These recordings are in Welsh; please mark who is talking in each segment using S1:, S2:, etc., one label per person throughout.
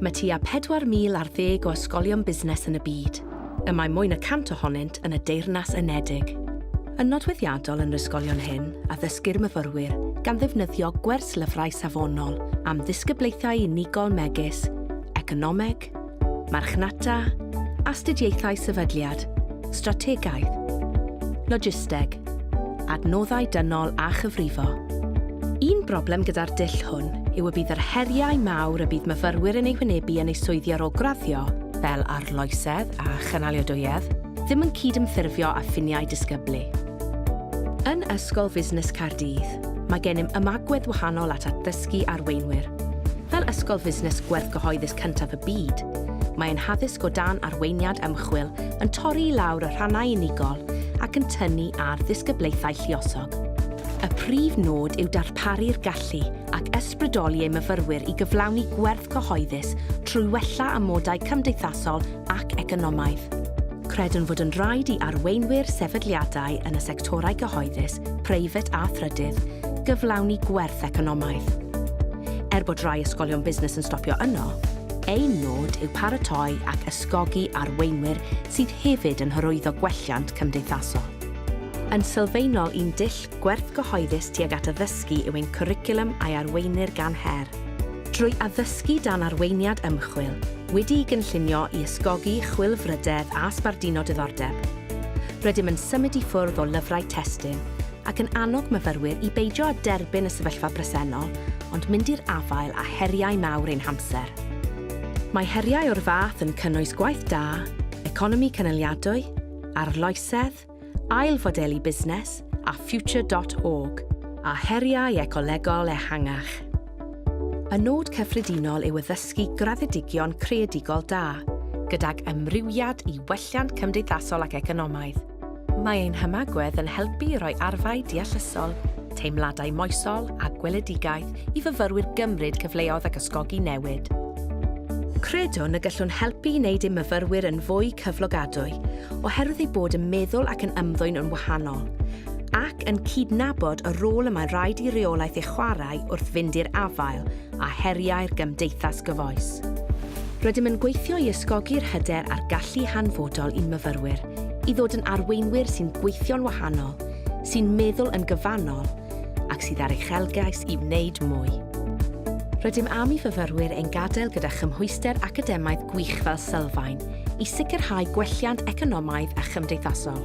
S1: Mae tua 4,000 ar ddeg o ysgolion busnes yn y byd, y mae mwy na 100 ohonynt yn y Deyrnas Unedig. Yn nodweddiadol yn yr ysgolion hyn, addysgir myfyrwyr gan ddefnyddio gwerslyfrau safonol am ddisgyblaethau unigol megis, economeg, marchnata, astudiaethau sefydliad, strategaeth, logisteg, adnoddau dynol a chyfrifo. Un broblem gyda'r dull hwn yw y bydd yr heriau mawr y bydd myfyrwyr yn eu hwynebu yn eu swyddi ar ôl graddio, fel arloesedd a chynaliadwyedd, ddim yn cydymffurfio â ffiniau disgyblu. Yn Ysgol Fusnes Caerdydd, mae gennym ymagwedd wahanol at addysgu arweinwyr. Fel ysgol fusnes gwerthgyhoeddus cyntaf y byd, mae ein haddysg o dan arweiniad ymchwil yn torri i lawr y rhannau unigol ac yn tynnu ar ddisgyblaethau lluosog. Y prif nod yw darparu'r gallu ac ysbrydoli ei myfyrwyr i gyflawni gwerth cyhoeddus trwy wella amodau cymdeithasol ac economaidd. Credwn fod yn rhaid i arweinwyr sefydliadau yn y sectorau cyhoeddus, preifat a thrydydd gyflawni gwerth economaidd. Er bod rhai ysgolion busnes yn stopio yno, ein nod yw paratoi ac atgogi arweinwyr sydd hefyd yn hyrwyddo gwelliant cymdeithasol. Yn sylfaenol un dull gwerth gyhoeddus tuag at addysgu yw ein cwricwlwm a'i arweinir gan her. Drwy addysgu dan arweiniad ymchwil, wedi'i gynllunio i ysgogi chwilfrydedd a sbarduno diddordeb, rydym yn symud i ffwrdd o lyfrau testun ac yn annog myfyrwyr i beidio â derbyn y sefyllfa bresennol ond mynd i'r afael â heriau mawr ein hamser. Mae heriau o'r fath yn cynnwys gwaith da, economi cynaliadwy, arloesedd, ail-fodelu busnes a Future dot org, a heriau ecolegol ehangach. Y nod cyffredinol yw addysgu graddedigion creadigol da, gydag amrywiad i welliant cymdeithasol ac economaidd. Mae ein hymagwedd yn helpu i roi arfau deallusol, teimladau moesol a gweledigaeth i fyfyrwyr gymryd cyfleodd ac ysgogi newid. Credwn y gallwn helpu i wneud ein myfyrwyr yn fwy cyflogadwy, oherwydd eu bod yn meddwl ac yn ymddwyn yn wahanol, ac yn cydnabod y rôl y mae'n rhaid i reolaeth ei chwarae wrth fynd i'r afael â heriau'r gymdeithas gyfoes. Rydym yn gweithio i ysgogi'r hyder a'r gallu hanfodol i'n myfyrwyr i ddod yn arweinwyr sy'n gweithio'n wahanol, sy'n meddwl yn gyfannol ac sydd â'r uchelgais i wneud mwy. Rydym am i fyfyrwyr ein gadael gyda chymhwyster academaidd gwych fel sylfaen i sicrhau gwelliant economaidd a chymdeithasol.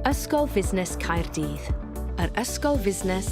S1: Ysgol Fusnes Caerdydd, yr ysgol fusnes